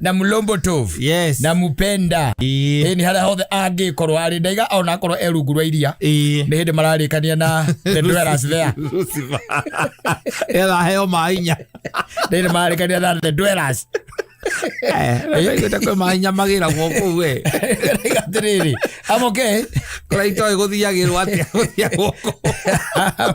na mulombo tovu Yes. na mupenda Ĩĩ. ĩni harĩa hothe angĩkorwo arĩ ndaiga ona akorwo e rungu rwa iria Ĩĩ. nĩ hĩndĩ mararĩkania na the dwellers there Lucifer. Etha heo mahinya. nĩ hĩndĩ mararĩkania na the dwellers Eh, ndaiguĩte kwĩ mahinya magĩragwo kũu we. Ndaiga atĩrĩrĩ I'm okay Kũrĩa itoĩ gũthiagĩrwo atĩa gũthiagwo kũu.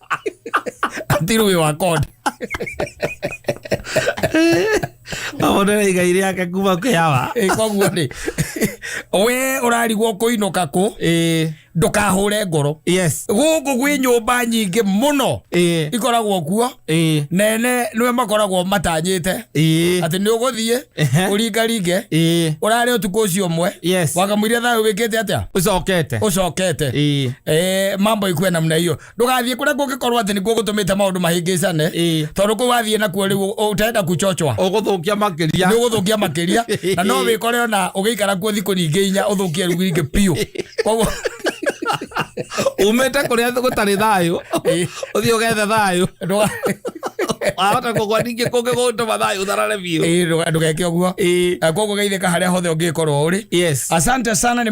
until we were caught amone igai riake kuma kiawa Eh, koguo rĩ we ũrarigwo kũinũka kũ eh ndũkahũre ngoro yes gũkũ gwĩ nyũmba nyingĩ mũno eh ikoragwo kuo eh nene nĩwe makoragwo matanyĩte eh atĩ nĩ ũgũthiĩ Ehe. ũringaringe eh ũrarĩ ũtukũ ũcio ũmwe yes wakamwĩria thayũ wĩkĩte atĩa ucokete ũcokete eh Eh, mambo ikuwe namna hiyo ndũgathiĩ kũrĩa kũngĩkorwo atĩ nĩkuo gũtũmĩte maũndũ mahĩngĩcane Ĩĩ. tondũ kũu wathiĩ nakuo rĩu ũ- ũtenda kuchochwa ũgũthũkia makĩria nä å gå thå kia makä ria na no wä kore ona å gä ikara kuo thikå nyingä inya å thå kie rä u ingä biå koguo umĩte kũrĩa gũtarĩ thayũ Ĩĩ. ũthiĩ ũgethe thayũ ndũga- wahota kũgwa ningĩ kũngĩ gũgũtũma thayũ ũtharare biũ Ĩĩ, ndũga- ndũgeke å guo Ĩĩ. koguo geithä ka harä a hothe å ngä korwo å rä yes asante sana nĩ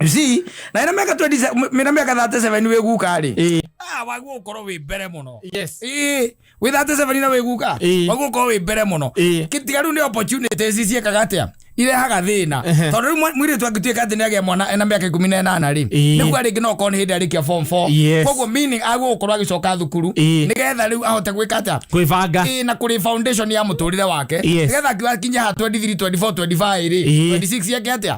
You see, na ina miaka 27 mina miaka 37 we guka ri eh. ah wagu ukoro we mbere muno yes eh we 37 ina we guka eh. wagu ukoro we mbere muno eh. kitigaru ni opportunities ici kaga atia irehaga thina tondu riu mwiri tu angituika ati ni agia mwana ena miaka 18 ri niguo ringi no korwo ni hindi arikia form 4 koguo meaning agu gukorwo agicoka thukuru nigetha riu ahote gwika atia gwibanga na kuri foundation ya muturire wake nigetha akiwa kinya ha 23 24 25 ri 26 yake atia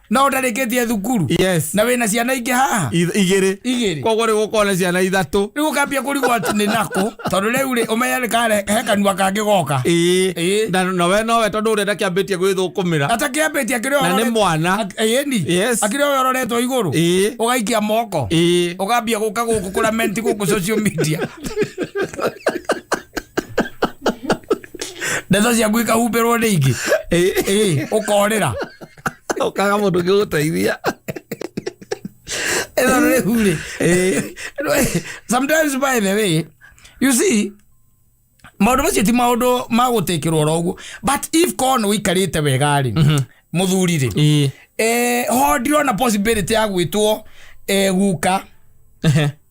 no ndarĩkĩtie thukuru yes na wĩna ciana ingĩ haha Ith- igĩrĩ Igĩrĩ. koguo rä gå na ciana ithatå rĩu ũkambia kũrigwo atĩ nĩ nakũ tondũ rĩu rĩ ũmenye nĩ kare- he kanua kangĩ goka Ĩĩ. ĩĩ na na we nowe tondå å renda kä ambä tie gwä thå kå mä ra atakĩambĩtie akĩrĩ Na nĩ mwana. ĩni Yes. akĩrĩ oyo ũroretwo igũrũ Ĩĩ. ũgaikia moko Ĩĩ. ũkambia gũka gũkũ kũra menti gũkũ social media ndeto ciaku ikahumbĩrwo nĩ ingĩ Ĩĩ. Ĩĩ, ũkorĩra Ũkaga mũndũ ũngĩ gũteithia. Ĩno nĩ hurĩ. Eh, Sometimes by the way, you see, maundu macio ti maundu ma gutikirwo oro uguo but if korwo nä wikarite wega ri må thuri rä Ĩĩ. eh, ho ndirona possibility ya gwä two eh, guka Ehe.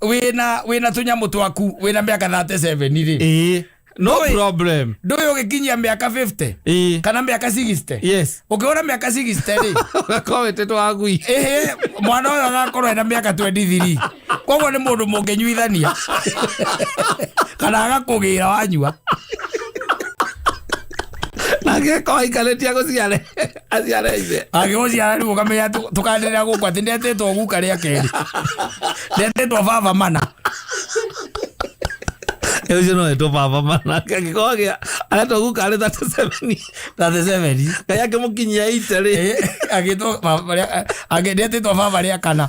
wina wina tunyamu twaku wina miaka 37 ri ĩĩ no Ndũĩ- problem ndũĩ ũgĩkinyia mĩaka 50 ĩĩ kana mĩaka 60 yes ũkĩona mĩaka 60 rĩ ũgakorwo wĩtĩtwo wagui ĩhĩ mwana ũyũ agakorwo ena mĩaka 23 koguo nĩ mũndũ mũngĩnyuithania kana agakũgĩra wanyua nake ko aikarĩtie gũciare aciara ithe agĩgũciara rĩu ũkamenya tũ- tũkanĩrĩra gũkũ atĩ ndetĩtwo guka rĩa kerĩ ndetĩtwo baba mana Rĩu ũcio no etwo baba mana gĩkorwo gĩa aretwo guka arĩ 37 thathe seveni ngai akĩmũkinyia ite rĩ agĩtwo baba rĩa- agĩ- ndetĩtwo baba rĩa kana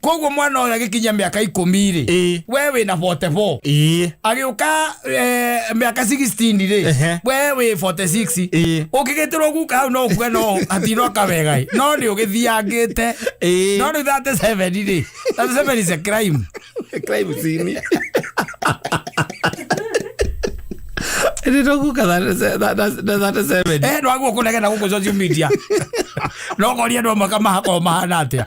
koguo mwana ũyũ agĩkinyia mĩaka ikũmi rĩ Ĩĩ. we wĩ na 44 ĩĩ agĩũka eh, mĩaka 16 rĩ Ehe. we wĩ 46 Ĩĩ. ũkĩgĩtĩrwo guka hau no ũkue no atinoka wega ĩ. no nĩ ũgĩthiangĩte Ĩĩ. no nĩ 37 rĩ 37 is a crime crime scene nditoguka thate seven eh no aguo kunegena guku social media no koria no makamahakorwo mahana atia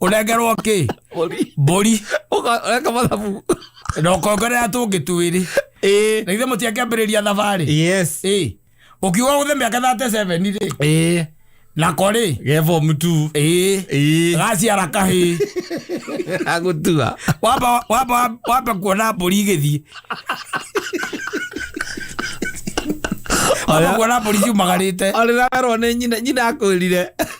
unengerwo ki Mbũri. mburi Ũka- eka mathabu na ukongerera tungi twiri Ĩĩ. na ithe mutiakĩambĩrĩria thabarĩ yes Ĩĩ. ukiuga guthe miaka 37 ri Ĩĩ. nako ri ge form two ĩĩ Ĩĩ. gaciara kahĩ agũtua wamba wamba wamba kuona mbũri igĩthiĩ wamba kuona mbũri ciumagarĩte arĩ nawerwo nĩ nyina nyina akwĩrire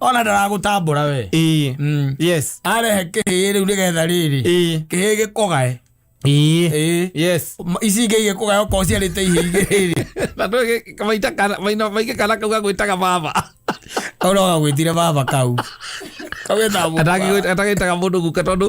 ona ndaragũtambũra we ĩĩ Mm. yes arehe kĩhĩĩ rĩu nĩgetha rĩrĩ ĩĩ kĩhĩĩ gĩkũgae ĩĩ Ĩĩ. yes Ma- ici ingĩ igĩkũgae okorwo ciarĩte ihĩĩ igĩ rĩrĩ na ndå maita kana maina- maingä kana kau gagwĩtaga baba kau no gagwĩtire baba kau kau getagwo atagä taga må ndå guka tondå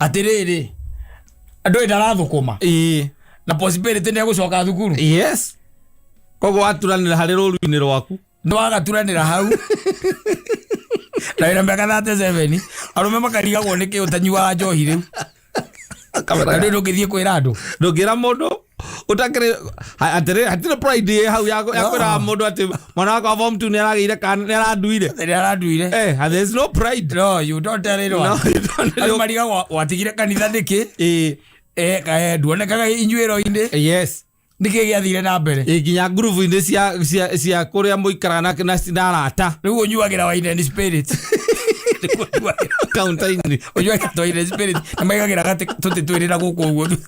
atĩrĩrĩ andũ ĩ ndarathũkũma Ĩĩ. na possibility nĩ egũcoka thukuru yes koguo waturanĩra harĩ rũru-inĩ rwaku nĩ wagaturanĩra hau na wĩna mĩaka thate seveni arũme makarigagwo nĩkĩ ũtanyuaga njohi rĩu kamera rĩu ndũngĩthiĩ kwĩra andũ ndũngĩra mũndũ utakire atiri hatire pride ye hau yako yako ra mundu ati mwana wakwa form 2 niragire kan niraduire Nĩ aranduire eh and there is no pride no you don't tell it no one you don't Andũ know mariga wa- watigire kanitha nĩkĩ eh Eh, ka- eh, nduonekaga inyuĩro-inĩ yes nĩkĩ gĩathire na mbere eh ginya groove inde cia cia cia kuria muikara na na sinarata rĩu ũnyuagĩra waine ni spirit Nĩguo ũnyuagĩra- counter ini ũnyuagĩra waine ni spirit na maigagĩra gatĩ tũtĩ twĩrĩ na gũkũ ũguo thutha.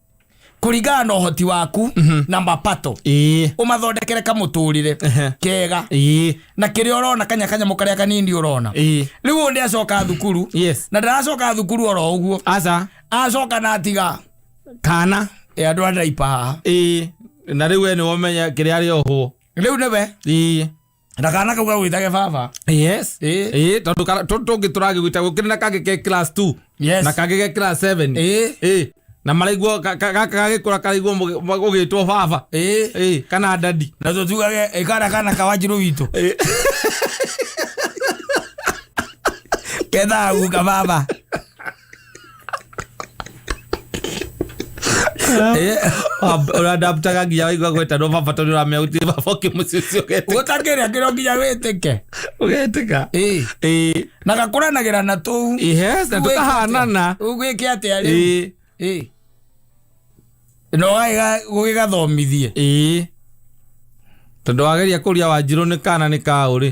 kũringana na ũhoti waku na mapato ĩĩ ũmathondekere kamũtũrĩre Ehe. kega ĩĩ na kĩrĩa ũrona kanya kanyamũ karĩa kanini ũrona ĩĩ rĩu ũyũ nĩ acoka thukuru yes na ndaracoka thukuru oro ũguo aca acoka na atiga kana e andũ a ndaipa haha ĩĩ na rĩu we nĩ wamenya kĩrĩa arĩ ohwo rĩu nĩwe ĩĩ na kana kau gagwĩtage baba yes Ĩ. Ĩ, tondũ kana- tũ- tũngĩ tũragĩgwĩta gũkĩrĩ na kangĩ ke class 2 Yes. na kangĩ ke class 7 Ĩ. Ĩ, na maraigua ka- ka- gaka gagĩkũra karaigua mũgĩ- ma- gũgĩtwo baba Ĩ. Ĩ, kana dadi na tå tugage ä kana kana kawanjirå witå kethaguka baba ũrandamtaga nginya waigua gwetanwo baba tondũ ũramenya gũtirĩ baba ũngĩ mũciĩ ũcio ũgetika gũtakĩrĩa kĩro nginya wĩtĩke ũgetika Ĩĩ. Ĩĩ. na gakũranagĩra na tũu Yes, na tũkahanana ũgwĩke atĩa rĩu Ĩĩ. Ĩĩ. na ũgagĩga- gũgĩgathomithie Ĩĩ. tondũ wageria kũria wanjirũ nĩ kana nĩ kaũrĩ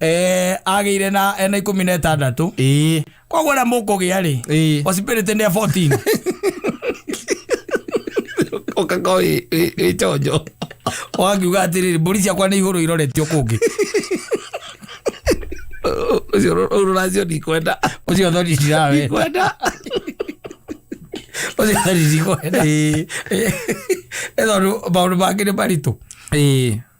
eh, agĩire na ena ikũmi na ĩtandatũ ĩĩ koguo rĩa mũkũgĩa rĩ ĩĩ osipirĩtĩ nĩ ya 14 ũkaka wĩ chonjo wakiuga atĩrĩrĩ mbũri ciakwa nĩ ihũrũ iroretio kũngĩ ũcio rũracio ndikwenda ũcio thoni ndirawe ndikwenda ũcio thoni ndikwenda Ĩĩ. Ĩ tondũ maũndũ mangĩ nĩ maritũ ĩĩ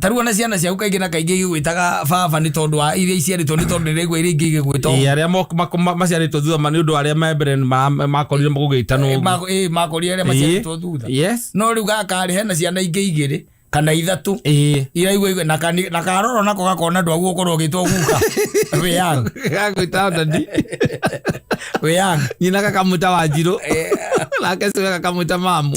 tarĩu ona ciana ciaku kaingĩ na kaingĩ igĩgwĩtaga baba nĩ tondũ wa iria iciarĩtwo nĩ tondũ ndĩraigua iria ingĩ igĩgwĩtwo Ĩĩ, arĩa mo- mako- ma- maciarĩtwo thutha ma- nĩ ũndũ wa arĩa me mbere nĩ ma- makorire gũgĩtanwo Eh, ũguo. mako- eh, makorire arĩa Ĩĩ. maciarĩtwo thutha Yes. no rĩu gakarĩ hena ciana ingĩ igĩrĩ kana ithatũ Ĩĩ. iraigua igwe- na kani- na karoro nako gakona andũ aguo ũkorwo ũgĩtwo guka wĩyang Gagwĩta ndandi. wĩyang nyina gakamwĩta wanjirũ nake cue gakamwĩta mamu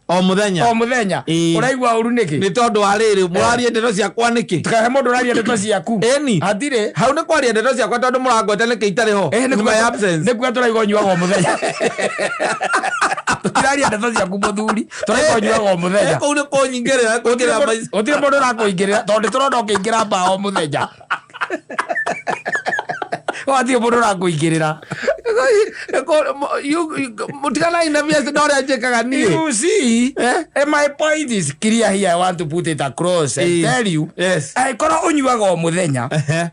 o muthenya o muthenya Ĩĩ. uraigua uru niki ni tondu wa riri murarie ndeto ciakwa niki tukahe mundu uraria ndeto ciaku Ĩni. hatire hau ni kwaria ndeto ciakwa tondu murangweta niki itari ho Eh, nĩ nyuma ya kuga- absence nĩ kuga tũraiga ũnyuaga o mũthenya tũtiraria ndeto ciaku mũthuri tũraiga ũnyuaga o mũthenya kuu ni kunyingirira kwingira gutire mundu urakũingirira tondu turona ukiingira mbaa o muthenya watige må ndå rakåingä rä ra må tiganai na biaci na å rä a njä kaga niä You see, Eh? eh, my point is clear here. I want to put it across and Eh. tell you. Yes. Angĩkorwo ũnyuaga o mũthenya, Ehe.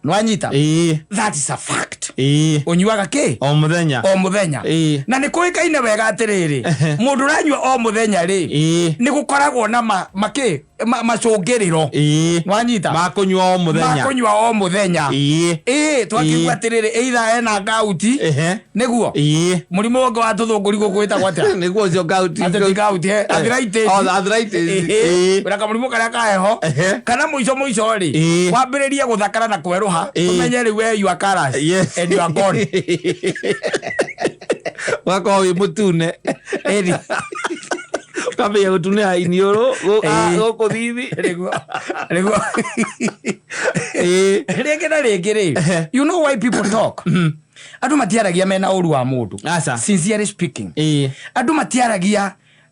nĩwanyita? Ĩĩ, That is a fact. ĩĩ. Ũnyuaga kĩ? o må thenya O mũthenya. Ĩĩ. Na nĩ kũĩkaine wega atĩrĩrĩ, Ehe. mũndũ ũranyua o mũthenya rĩ, Ĩĩ. nĩ gũkoragwo na ma- makĩ ma- macũngĩrĩro ĩĩ wanyita makũnyua o mũthenya makũnyua o mũthenya ĩĩ ĩĩ twakĩigua Ĩĩ. atĩrĩrĩ ĩitha ena ngauti ehe nĩguo ĩĩ mũrimũ ũngĩ wa tũthũngũri gũkũ wĩtagwo atĩa nĩguo ũcio ngauti ateti ngauti eh, arthritis. Oh, the arthritis. Ĩĩ. Ĩĩ. na kamũrimũ karĩa ka heho Ehe. kana mũico mũico rĩ Ĩĩ. wambĩrĩrie gũthakara na kwerũha Ĩĩ. tũmenye rĩu we you are colours Yes. and you are gone ũgakorwo wĩ mũtune Eri. ũkamenya gũtune ha iniũrũ gũ- a- Ĩĩ. gũkũ thithi Nĩguo- nĩguo- Ĩĩ. rĩngĩ na rĩngĩ rĩ Ehe. you know why people talk andå matiaragia mena å ru wa må Aca. ndå andå matiaragia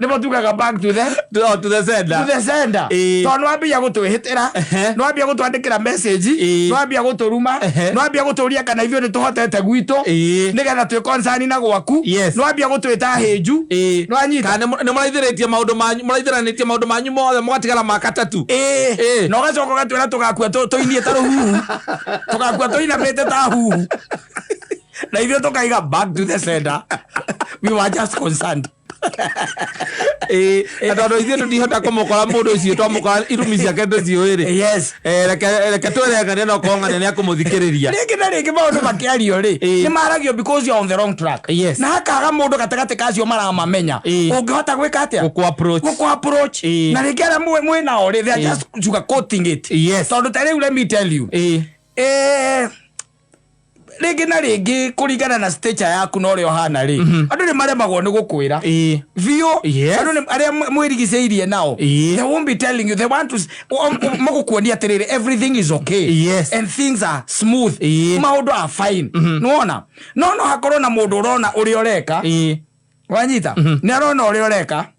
nĩmo tugaga back to the To- to the sender. to the sender Ĩĩ. tondũ nĩwambia gũtwĩhĩtĩra Ehe. nĩwambia gũtwandĩkĩra message Ĩĩ. nĩwambia gũtũruma Ehe. nĩwambia gũtũria kana ithuĩ nĩtũhotete gwitũ Ĩĩ. nĩgetha twĩ concern na gwaku Yes. nĩwambia gũtwĩta hĩnju Ĩĩ. nĩwanyita Kana nĩ- nĩ mũraithĩrĩtie maũndũ manyu mũraithĩranĩtie maũndũ manyu mothe mũgatigara maka tatu Ĩĩ. Ĩĩ. na ũgacoka ũgatwĩra tũgakua tũ- tũinie ta rũhuhu tũgakua tũinamĩte ta huhu na ithuĩ tũkaiga back to the sender we were just concerned Eh, na tondå ithuä tå ndihota kå må kora må ndå å cio twamå kora irumi ciake ndå ciå rä yes reke twä rengania na kongania nä akå må thikä rä ria rĩngĩ na rĩngĩ maũndũ makĩario rĩ Ĩĩ. nĩ maragio because you are on the wrong track Yes. na hakaga mũndũ gatagatĩ ka acio maramamenya Ĩĩ. ũngĩhota gwĩka atĩa Gũkũ approach. Gũkũ approach. Ĩĩ. na rĩngĩ arĩa mwĩ- mwĩ nao rĩ they are Ĩĩ. just sugar coating it Yes. tondũ ta rĩu let me tell you Ĩĩ. eh, rĩngĩ na rĩngĩ kũringana na stature yaku na ũrĩa ũhana rĩ mhm. andũ nĩ maremagwo nĩ gũkwĩra biũ andũ nĩ arĩa mwĩrigicĩirie nao they won't be telling you they want to magũkuonia atĩrĩrĩ everything is okay yes. and things are smooth maũndũ are fine mhm. nĩwona no no hakorwo na mũndũ ũrona ũrĩa ũreka wanyita mhm. nĩ arona ũrĩa ũreka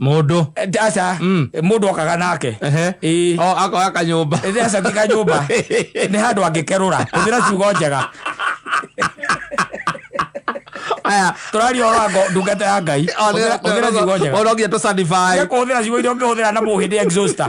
Mũndũ. aca Mm. mũndũ okaga nake Ehe. Ĩĩ. O, akoya kanyũmba. Ĩĩ, aca ti kanyũmba nĩ handũ angĩkerũra hũthĩra ciugo njega Aya. tũraria ũhoro wa ngo- ndungata ya ngai Hũthĩra- hũthĩra ciugo njega Ona nginya tũ certify. Nĩ kũhũthĩra ciugo iria ũngĩhũthĩra na mũhĩndĩ exhauster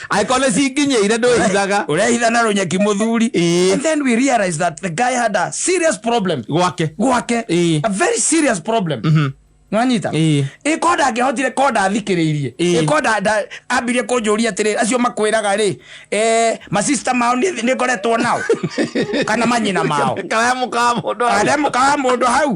angĩkorwo nĩ cinginyĩire ndwĩhithaga urehitha na runyeki muthuri Ĩĩ. and then we realized that the guy had a serious problem gwake gwake Ĩĩ. a very serious problem nwanyita Ĩĩ. ĩko ndangĩhotire ko ndathikĩrĩirie Ĩĩ. ĩko nda- nda- ambirie kũnjũria atĩrĩ acio makwĩraga rĩ eh, masista mao nĩ nĩ ngoretwo nao kana manyina mao kana mũkawa mũndũ arĩa mũkawa mũndũ hau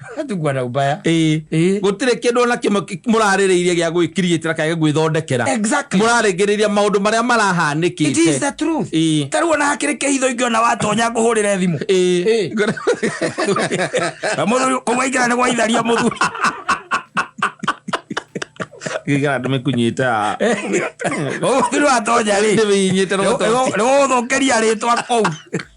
tugwana ubaya ĩĩ Ĩĩ. gũtirĩ kĩndũ ona kĩmwe kĩ- mũrarĩrĩirie gĩa gwĩkiriĩtĩra kana gĩa gwĩthondekera Exactly. mũrarĩngĩrĩria maũndũ marĩa it is marahanĩkĩte the truth Ĩĩ. tarä ona hakiri kä hitho ingä ona watonya ngå hå rä re thimå Ĩĩ. må thuri kå gwaingä ra nä gwaitharia må thuri gĩkara ndĩmĩkunyĩte a må thuri watonya rä ndĩmĩinyĩte nä gå thå kä ria rä twa kå u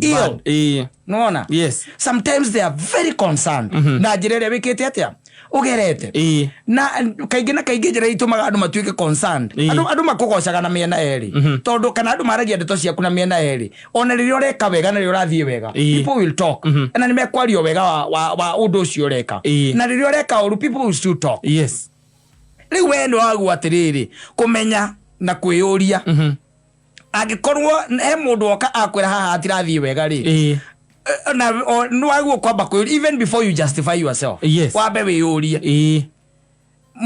iyo Eh, nona yes sometimes they are very concerned na njĩra ĩrĩa wĩkĩte atĩa ũgerete Eh, na kaingĩ na kaingĩ njĩra itũmaga andũ matuĩke concerned Ĩĩ. andũ andũ makũgocaga na mĩena erĩ tondũ kana andũ maragia ndeto ciaku na mĩena erĩ ona rĩrĩa ũreka wega na rĩrĩa ũrathiĩ wega Ĩĩ. people will talk na nĩ mekwaria wega wa, wa, wa ũndũ ũcio ũreka Ĩĩ. na rĩrĩa ũreka ũru people will still talk yes rĩu wee nĩ wagwo atĩrĩrĩ kũmenya na kwĩyũria angĩkorwo he mũndũ woka akwĩra haha hatirathiĩ wega rĩ Ĩĩ. eh, na o- nĩwagwo kwamba kwĩyũria even before you justify yourself Yes. wambe wĩyũrie Ĩĩ.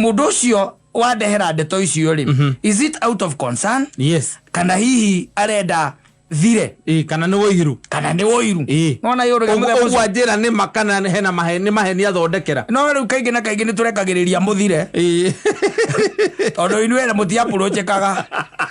mũndũ ũcio wandehera ndeto icio rĩ is it out of concern Yes. kana hihi arenda thire Ĩĩ, kana nĩ wũiru kana nĩ ũiru Ĩĩ. nona yå rä Ũguo- ũguo anjĩra nĩ ma kana hena mahe- nĩ maheni athondekera no rä u kaingä na kaingä nä tå rekagä rä ria må thire Ĩĩ. tondå inuä må tiapå rå njäkaga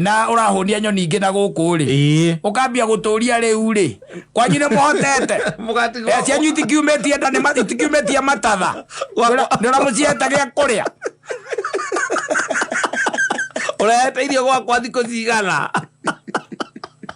na ũrahũnia nyoni ingĩ na gũkũ rĩ Ĩĩ. ũkambia gũtũria rĩu rĩ kwanyu nĩ mũhotete Mũgatiga- Eh, cianyu itikiumĩtie nda nĩ ma- itikiumĩtie matatha nĩ ũramũcihete gĩa kũrĩa ũrehete irio gwakwa thikũ cigana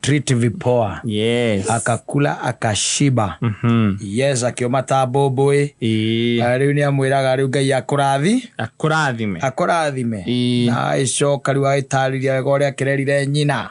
treat vipoa yes. akakula akashiba mm-hmm. yes akiuma ta mbũmbũĩ rĩu nĩ amwĩraga rĩu ngai akũrathi akũrathime akũrathime na agĩcoka rĩu agĩtarĩria wega ũrĩa akĩrerire nyina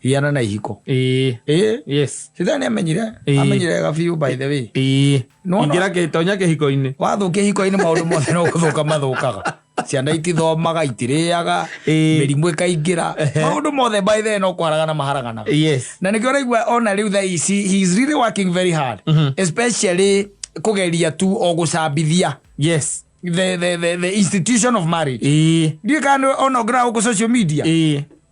hiana na ihiko ĩĩ ĩĩ yes sitani nĩ amenyire Ĩĩ. amenyire wega biũ by the way ĩĩ Nĩwona- ingĩra kä- tonya kä hiko-inä wathũkia ihiko-inĩ maũndũ mothe no gũthũka mathũkaga ciana itithomaga itirĩaga Ĩĩ. mĩrimũ ĩkaingĩra maũndũ mothe by the way no kwaragana maharaganaga yes na nä kä oraigua ona rä u thaa ici he is really working very hard especially kå geria tu o gå cambithia yes the, the, the, the institution of marriage ĩĩ ndiä kana ona å ngä raga gå kå social media ĩĩ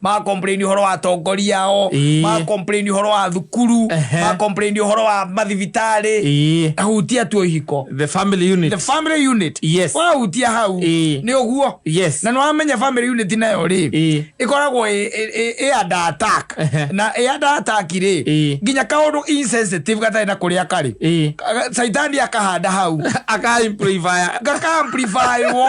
magakomplaini horo wa atongoria ao Ĩĩ. magakomplaini horo wa thukuru Ehe. magakomplaini horo wa mathibitarĩ Ĩĩ. ahutia tu ihiko the family the unit family unit Yes. wahutia hau Ĩĩ. nĩ ũguo Yes. na nä wamenya family unit nayo rä Ĩĩ. ĩkoragwo ĩ- ĩ- ĩ- ĩ under attack Ehe. na ĩ under attack rĩ Ĩĩ. nginya kaåndå insensitive gatarä na kå rä a karä Ĩĩ. caitani akahanda hau aka amplify gakaamplifywo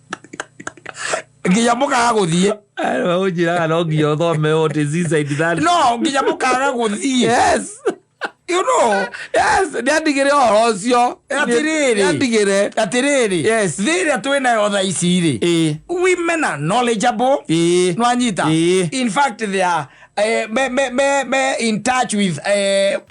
nginya mũkaga gũthiĩ unjiraga no nginya uthome what is inside that no nginya mũkaga gũthiĩ yes you know yes ndiandigire horo ucio Atĩrĩrĩ. ndiandigire atĩrĩrĩ Yes. thĩ ĩrĩa twĩ nayo tha ici-rĩ ĩ women are knowledgeable ĩ nwanyita Ĩĩ. in fact they are eh, me, me, me, me in touch with eh,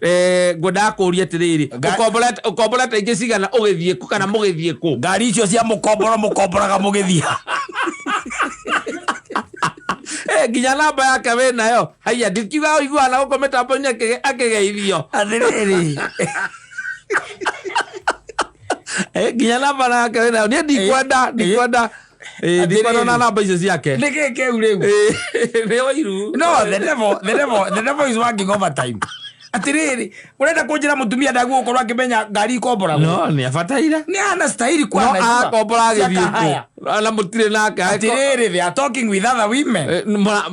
Eh, ngwendaga kũũria atĩrĩrĩ Nga- ũkombora- ũkombora ta ingĩ cigana ũgĩthiĩ kũ kana mũgĩthiĩ kũ ngari icio cia mũkomboro mũkomboraga mũgĩthiĩ Eh, nginya namba yake wĩ nayo haiya ndikiuga ũiguana gũkũ mĩtambo-inĩ akĩge- akĩgeithio atĩrĩrĩ Eh, nginya namba yake wĩ nayo niĩ ndikwenda ndikwenda Eh, ndikona Atĩrĩrĩ. na namba icio ciake nä gä kä u rä u Eh, nĩ wairu no the devil the devil the devil is working overtime atiriri urenda kunjira mutumia ndagu gukorwo akimenya ngari ikomboragwo no nä abataire ni ana stahili kuwa no anajua. akombora agä Siaka haya. thiä na må tirä nake atiriri they are talking with other women Eh, mara-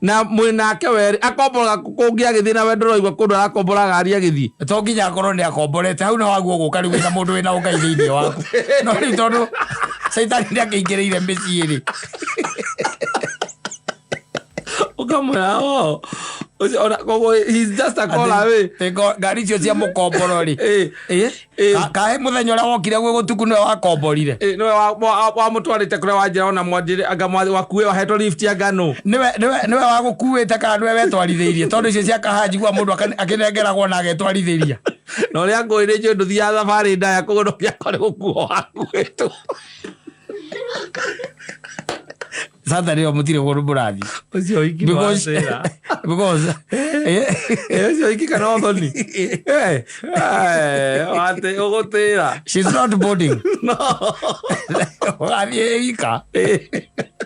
Na mwĩ nake werĩ, akomboraga kũ- kũngĩ agĩthiĩ na wendo ũraigua kũndũ arakomboraga ariĩ agĩthiĩ. to nginya akorwo nä akomborete hau na waguo gå ka rä u wä na må ndå wä na å ngai thä inä waku no rä u tondå caitani nä akä ingä rä ire mä ciä rä Ũkamwĩra, "Oh, ũcio ona- koguo he's just a call away." ngari icio cia må komboro rä Eh, Eh? Ka- kahe muthenya uria wokire gwi gutuku niwe wakomborire niwe wamutwarite kuria wanjira ona mwanjire anga mwa- wakue wahetwo lift ya ngano niwe niwe- niwe wagukuite kana niwe wetwarithiirie tondu icio cia kaha njigua mundu akane- akinengeragwo na agetwarithiria na uria ngwirä njå ndå thiaga thabarä ndaya kå gå ndå gä akorä gå kuo wakuä two sasa rä o må tirä gå rå må rathi ucio wiki nĩ wa thĩna. Eh, ucio wiki kana ũthoni Eh, eh, watĩ ũgũtĩra no rathiä wika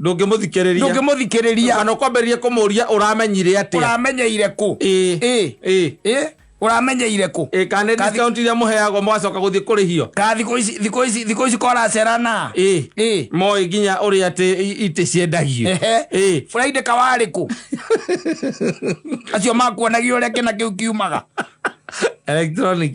ndũngĩmũthikĩrĩria ndũngĩmũthikĩrĩria kana ũkwambĩrĩria kũmũria ũramenyire atĩa ũramenyeire kũ Ĩĩ. Ĩĩ. Ĩĩ. Ĩĩ. ũramenyeire kũ Ĩĩ, kana nĩ Kathi- discount iria mũheagwo mũgacoka gũthiĩ kũrĩhio ka thikũ ici thikũ ici thikũ ici koracerana Ĩĩ. Ĩĩ. moĩ nginya ũrĩa atĩ i- itĩ ciendagio Ehe. Ĩĩ. friday kawarĩ kũ acio makuonagia ũrĩa kĩna kĩu kiumaga electronic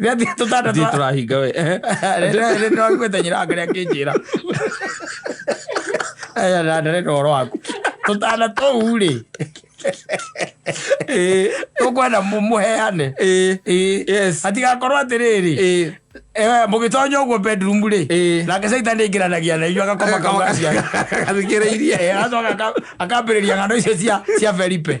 Gati tutana Ithuĩ twa. tũrahinga we eh. Rĩrĩ no aiguĩte nyina wake akĩnjĩra. Aya na ndare na ũhoro waku. Tutana tũu rĩ. Eh, Tũkwenda mũ- mũheane. eh, Ĩĩ. yes. Hatigakorwo atĩrĩrĩ. Eh, Eh, mũgĩtonya ũguo bedroom rĩ. Eh. Nake Satan aingĩranagia na inyuĩ agakoma kauga cia. gathikĩrĩirie Eh, agacoka aka- akambĩrĩria ng'ano icio cia cia Felipe.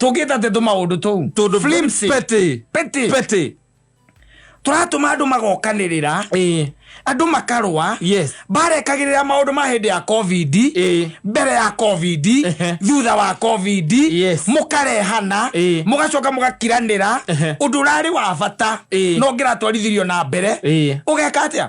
tũngĩta tendũ maũndũ tũu Tũndũ Flimsy. petty. Petty. Petty. tũratũma andũ magokanĩrĩra Eh. andũ makarũa Yes. barekagĩrĩra maũndũ ma hĩndĩ ya covid Eh. mbere ya covid Ehe. thutha wa covid Yes. mũkarehana Eh. mũgacoka mũgakiranĩra Ehe. ũndũ ũrarĩ wa bata Eh. no ngĩratwarithirio na mbere Eh. ũgeka atĩa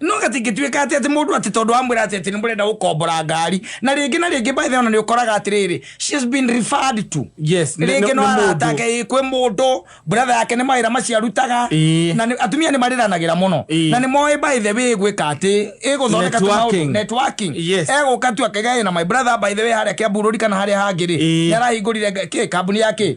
no gatingĩtuĩka atĩ atĩ mũndũ atĩ tondũ amwĩra atĩ atĩ nĩ mũrenda gũkombora ngari na rĩngĩ na rĩngĩ by the way ona nĩ ũkoraga atĩrĩrĩ she has been referred to Yes, nĩ- nĩ- rĩngĩ no nĩ mũndũ. aratake kwĩ mũndũ brother yake nĩ mawĩra macio arutaga Ĩĩ. na nĩ- atumia nĩ marĩranagĩra mũno Ĩĩ. na nĩ moĩ by the way gwĩka atĩ ĩgũthondeka tu maũndũ Networking. networking Yes. egũka tu akaiga na my brother by the way harĩa kĩamburũri kana harĩa hangĩ rĩ Ĩĩ. nĩ arahingũrire nga- kĩ kambuni ya kĩ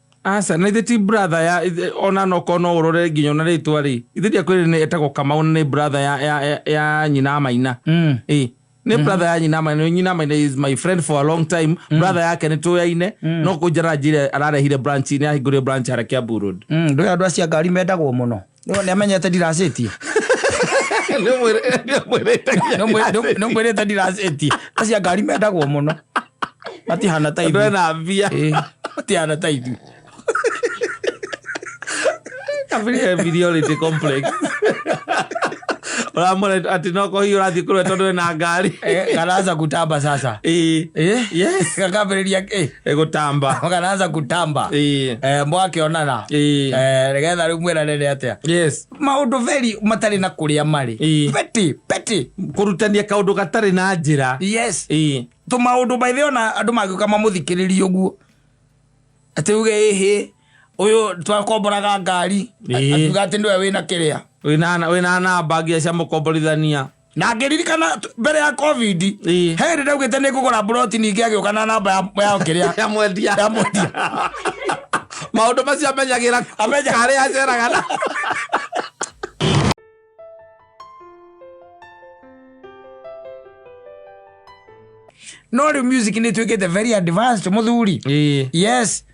Aca na ithe ti brother ya ithe- ona noko no urore nginya ona ritwa ri ithe ndiakwire ni etagwo kamau na ni brother ya ya ya- ya nyina maina Mm. Eh, ni brother ya nyina maina nyina maina is my friend for a long time brother yake ni tuyaine no kunjara njire ararehire branch ni ahingurire branch hara kiambu road Mm, ndå ä andå acio a ngari mendagwo må no Nĩwe nĩ amenyete ndiracĩtie. Nĩ mwĩrĩ- nĩ mwĩrĩte nginya ndiracĩtie. Nĩ mwĩrĩte ndiracĩtie. Acia ngari mendagwo mũno. Matihana ta Andũ ithuĩ. ena mbia Ĩĩ, Matihana ta ithuĩ. kabiri inferiority complex ũramwona atĩ no kũhihi ũrathiĩ kũrĩa tondũ ena ngari Eh, Karaza kutamba sasa. Ĩĩ. Eh? Yes. Gakambĩrĩria eh, egotamba makanaanza kutamba Ĩĩ. eh, mwakĩonana Ĩĩ. eh, nĩgetha rĩu mwĩranĩre atĩa yes maũndũ very matarĩ na kũrĩa marĩ Ĩĩ. peti peti kũrutania kaũndũ gatarĩ na njĩra yes Ĩĩ. tå maå maithe ona andå mangä ka mamå thikä rä ria å guo atä uge ä hä å yå twakomboraga ngari Ĩĩ. atuga atä nä we wä na kä rä a wĩna wĩna namba nginya cia mũkomborithania na ngĩririkana t- mbere ya covid Ĩĩ. he hĩndĩ ndaugĩte nĩ ngũgũra mburoti ningĩ agĩũka na namba ya- ya kĩrĩa ya mwendia ya mwendia maundu macio amenyagira Amenya- kare aceraga na no rĩu music nĩ ĩtuĩkĩte very advanced mũthuri yes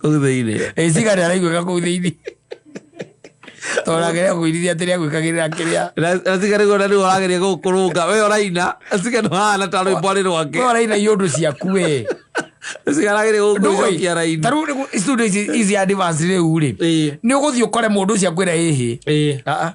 kuu thĩinĩ ĩciga nĩ araiguĩka kuu thĩinĩ torageria kũirithia atĩrĩa gwĩkagĩrĩra kĩrĩa asiga nĩguo na nĩguo arageria gũkũrũnga we ũraina asiga nĩ hana ta rwĩmbo arĩ rwake we ũraina iũndũ ciaku we asiga arageria gũkũcokia raini tarĩu nĩguo studio ici ici advance rĩu rĩ nĩ ũgũthiĩ ũkore mũndũ ũcio akwĩra ĩhĩ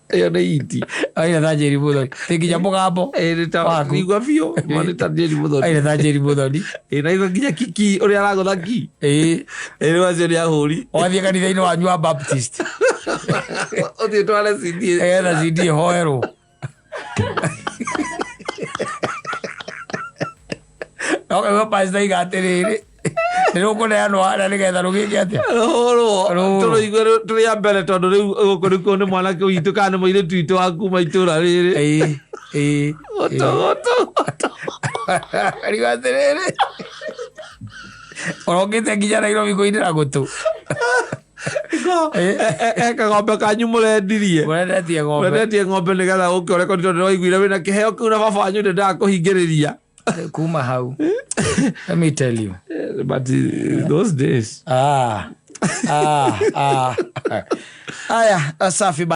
ĩyo nĩ iti aire thanjeri muthoni nĩ nginya mũgambo Waku. igua biũ ma nĩ ta njeri mũthoni aire thanjeri muthoni Ĩ, na igua nginya kiki ũrĩa aragũtha ki ĩĩ ĩrĩ wacio nĩ ahũri wathiĩ kanitha-inĩ wanyu wa baptist ũthiĩ tware cindi etha cindi hoerwo no kaigua pastor iga atiriri nĩrũkũneanwo harĩa nĩgetha rũgĩke atĩa rũhũrwo Rũhũrwo. tũrũigue rũ- tũrĩ a mbere tondũ rĩu gũkũ nĩkuo nĩ mwanake witũ kana nĩ mũirĩtu witũ wa kuma itũra rĩrĩ Ĩĩ, ĩĩ. gũtũgũtũ riu atĩrĩrĩ ũrokĩte nginya nairobi kũinĩra gũtũ Ko- e- e- e kagombe kanyu mũrendirie Mũrendetie ng'ombe. mũrendetie ng'ombe nĩ getha gũkĩ ũreko nĩ tondũ waiguire wĩ na kĩheo kĩu na baba wanyu nĩ ndakũhingĩrĩria Kuma hau. Let me tell you. Eh, but eh, those days Ah. Ah. Ah. Aya, safi ba.